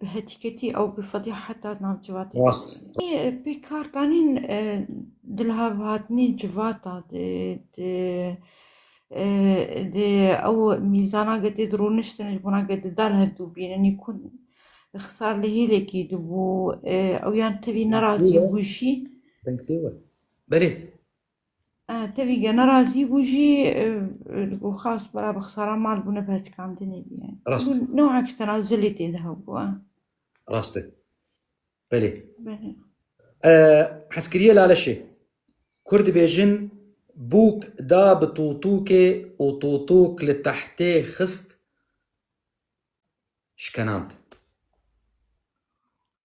bi hetîketî ew bi fedî heta navcivatê pê kar danîn dilhav hatnî civata di ew mîzana getê di rûniştin ji bona ke di dal hev dû bînin nî ku xisar li hêlekî dibû ew yan tevî nerazî bû jî Belê Tevî gena razî bû jî li ku xas bara bi xisara mal bûne bi hetikandinê bûye. Rast. Noha ki tena zilê tê de hebûye. Rast e. Belê. Belê. Hezkiriyê Laleşê, Kurd dibêjin bûk da bi tûtûkê û tûtûk li tehtê xist, şkenand.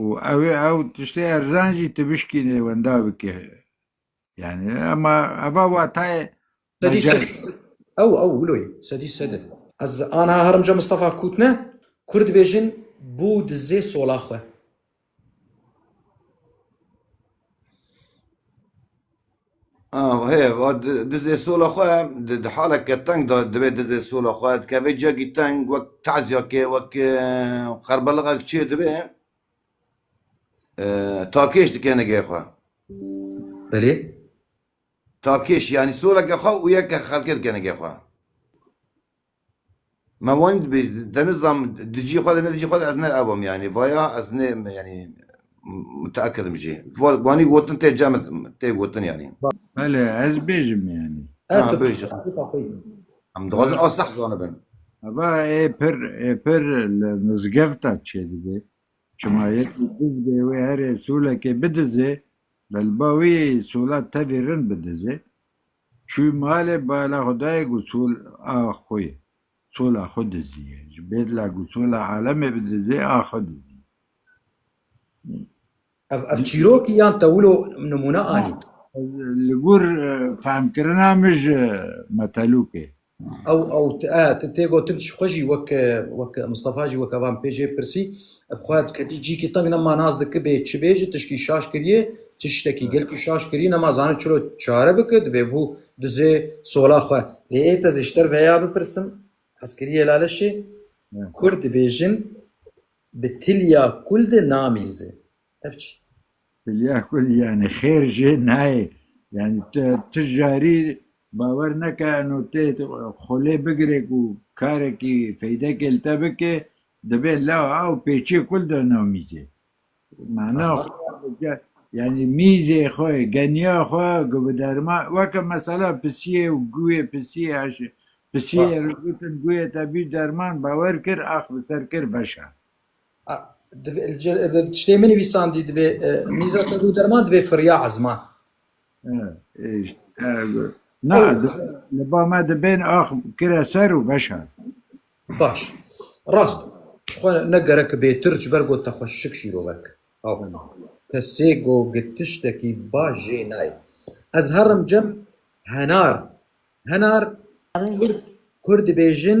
û ew ê ew tiştê erzan jî tu bişkînî wenda bikî. Yani ema eva watayê Sedî mecaz. sedî. Ew ew wiloyê sedî sedî. Ez anha herimca Mistefa Kûtne kur dibêjin bû dizê sola xwe. Ah, hê, va di- dizê sola xwe di di haleke teng de divê dizê sola xwe dikevê cegî teng wek tezyakê wek e, xerbeliqek çê dibê e, takêş dike nigê xwe. Belê? Takêş yanî soleke xwe û yeke xelkê dike nigê xwe. Me wan dibê te nizam dijî xwe de ne dijî xwe de ez ne ev im yanî vaya ez ne yanî muteekidim jî wanî gotin tê cem tê gotin yanî. Bele ez bêjim yanî. Her tu bêjî. Em dixwazin a seh zanibin. Eva ê pir ê pir li mizgefta çêdibê. Çima yekî diz bê wê herê solekê bidizê, li ba wî sola tevî rin bidizê. Çû malê bala xwe dayê gusûl a xwe yê. Sola xwe diziyê. Ji bêdla gusûla alemê bidizê a xwe diziyê. Ev ev çîrok î yan te wilo nimûne anî? Li gor fehmkirina min ji metelûkê. Ew ew tu tê gotin tu ji xwe jî wek wek Mistefa jî weke van pê jê pirsî ev xwe diketî cîkî teng nema nas diki bê çi bê ji tişkî şaş kiriyê çi ştekî gelkî şaş kirî nema zanin çilo çare biki dibê bû dizê sola xwe lê ê tezê ji te veya bipirsim hez kiriyê laleşê kurd dibêjin bi tilya kul de namîze. Ev çi? Hülya Kul yani xêr jê nayê. Yani tu, tu jarî bawer neke eno tê xolê bigirê ku karekî feydekê li te bike dibê la ew pêçê kul de nav mîzê. Mana yani mîzê xwe, geniya xwe ku bi derma weke mesela pisiyê û guyê pisiyê eşê pisiyê re gotin guyê te bî derman bawer kir ax bi ser kir beşa. Tiştê min nivîsandî dibê mîza te dû derman dibê firiya ezman. Na li ba me dibên ax kire ser û veşan. Baş. Rast. Xwe ne gerek bêtir ji ber got te xwe şik şîrovek. Haw. Te sê got tiştekî baş jê nayê. Ez herim cem henar. Henar Kurd dibêjin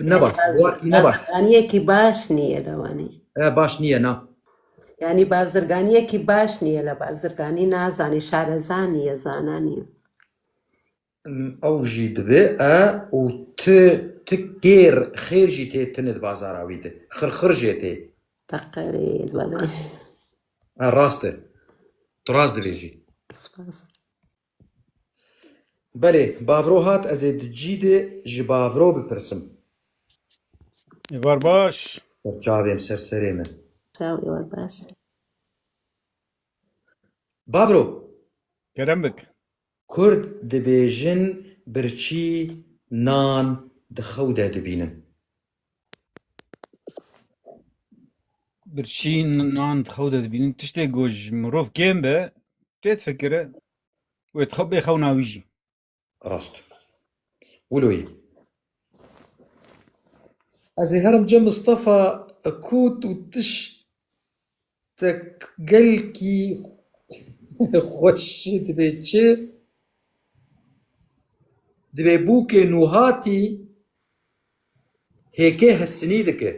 Ne baş. Barzirganiyekî baş nîye li Wanê. Baş nîye na. Yanî barzirganiyekî baş nîye li barzirganî nazanê, şareza nîye, zana nîye. Ew jî divê e û ti ti kêr xêr jî tê tune di bazara wî de. Xirxir jê tê. Teqerê belê. Rast e. Tu rast dibêjî. Spas. Belê, bavro hat ez ê di cî de ji bavro bipirsim. Êvar baş. Ser çavê min, ser serê min. Çaw êvar baş. Bavro. Kerem bik. Kurd dibêjin birçî nan di xew de dibînin. Birçî nan di xew de dibînin tiştê ku ji mirov kêm be tê difikire wê di xew bê xewna wî jî. Rast. Wilo yî. Ez ê herim bicem Mistefa kût û tişt Te gelkî xweş dibe çi? Dibe bûkê nûhatî hêkê hesinî dike.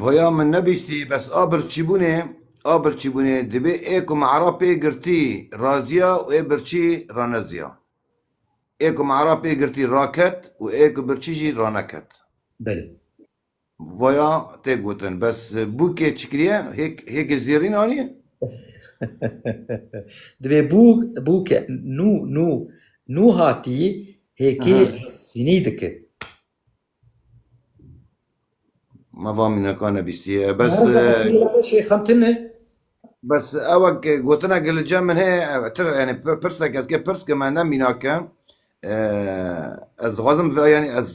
Voya min nebîstî bes a birçîbûnê a birçîbûnê dibê ê ku me era pê girtî raziya û ê birçî raneziya. Ê ku Me'rab pê girtî raket û ê ku birçî jî raneket. Belê. Vaya tê gotin. Bes bûkê çi kiriye? Hêk hêkê zêrîn aniye? Divê bûk bûke nû nû nû hatî hêkê resînî dike. Ma va mînekan e bîstiye. Bes e, xemtine. bes ew ek gotina ki li cem min heye ev tir yani pir- pirsek ez ke pirs ke me ne mînake. E, Ez dixwazim ve yani ez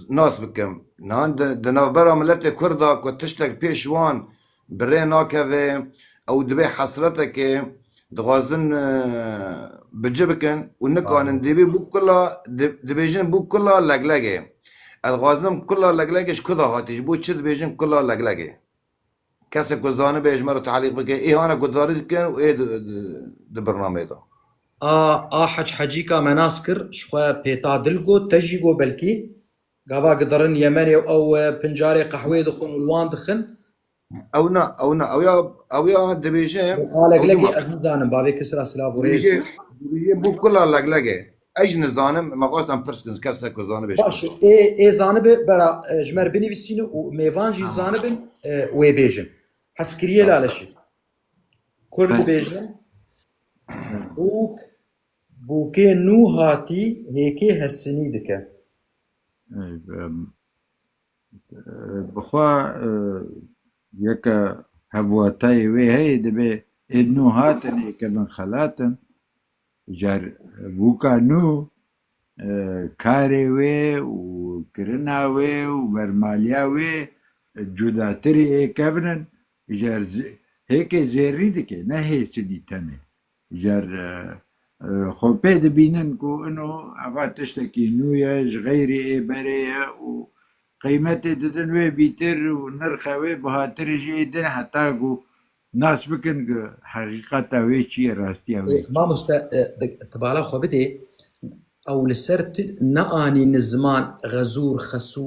nas bikim. Nihan di di navbera miletê Kurd a ku tiştek pêş wan Bi rê nakeve ew divê hesretekê dixwazin bi ci bikin û nikanin dîbî bû kula dibêjin bû kula leglegê. Ez dixwazim kula leglegê ji ku de hatî ji bo çi dibêjin kula leglegê. Kesek ku zanibe ji me re talîq bike îhane guhdarî dikin û ê di birnameyê de. A a Hec Hecîka me nas kir ji xwe pêta dil got te jî got belkî Gava gidirin Yemenê û ew pin carê qehwê dixwin û li wan dixin. Ew na, ew na, ew ya, ew ya dibêje. A leglekê ez nizanim bavê kis ra silav û rêz. Dibêje bû kula leglekê. Ez nizanim, me xwest em pirs kin kese ku zanibe. Baş e, ê ê zanibe bera ji me re binivîsîne û mêvan jî zanibin wê bêjin. Hes kiriye laleşî. Kurd dibêjin bûk. Bûkê nû hatî hêkê hesinî dike. Bixwe yeke hevwatayê wê heye dibe êd nû hatin ê kevin xelatin car bûka nû karê wê û kirina wê û bermaliya wê cudatirî ê kevnin jar hêkê zêrrî dike ne hêsinî tenê. Ger xwe pê dibînin ku ino eva tiştekî nû ye, ji xeyrî ê berê ye û qîmetê didin wê bîtir û nirxe wê bihatirê jî ê din heta ku nas bikin ku heqîqeta wê çi ye, rastiya wê çi ye. Mamoste tu bala xwe bidê ew li ser tu neanîn ziman xezûr, xesû,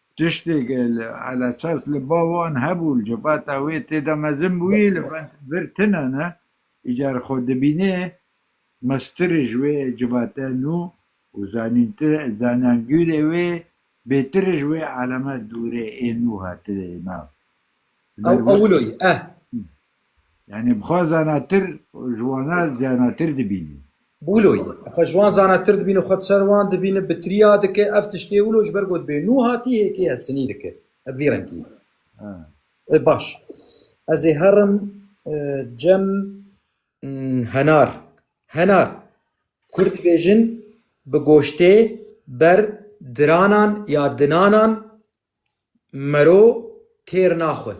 Tiştê ke li elesas li ba wan hebû, li civata wê tê de mezin bûyî, li vir tune ne. Îcar xwe dibînê meztir ji wê civate nû û zanyangîrê wê bêtir ji wê aleme dûrê ê nû hatine nav. Ew ewil o ye. Yanî bi xwe zanatir û ji wan re zanatir dibînî. Wilo ye. Xwe ji wan zanatir dibîn û xwe di ser wan dibîn, bi tiriya dike. Ev tiştê wilo ji ber ku dibê nû hatî hêkê hevsinî dike. Ev vî rengî ye. Ê baş. Ez ê herim cem henar. Henar. Kurd dibêjin bi goştê ber diranan ya dinanan mero têr naxwin.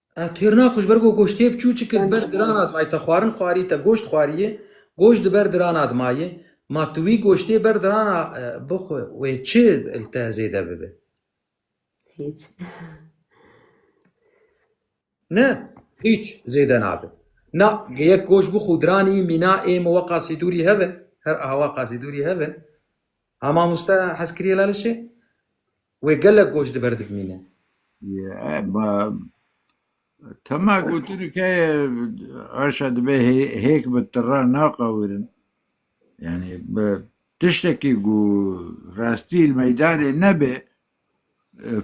Ev têrna xwe ji ber ku goşt têp çû çi kir di ber dirana dimayê te xwarin xwarî te goşt xwariyê goşt di ber dirana dimayê ma tu wî goştê ber dirana bixwe wê çi li te zêde bibe. Hiç. Ne hiç zêde nabe. Na yek goş bi xudranî mîna ê min we qasîdûrî heve her awa qasîdûrî heve. Hama musta hezkirî la li şê. Wê gelek goş di ber dibimîne. Ma tema gotini ke aşa dibe hêk bi tira naqawirin. Yanî bi tiştekî ku rastî li meydanê nebe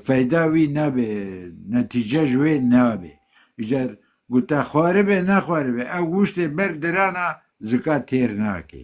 feyda wî nabe, netîce ji wê nabe. Îcar gote xwaribe nexwaribe ew goştê ber dirana zika têr nake.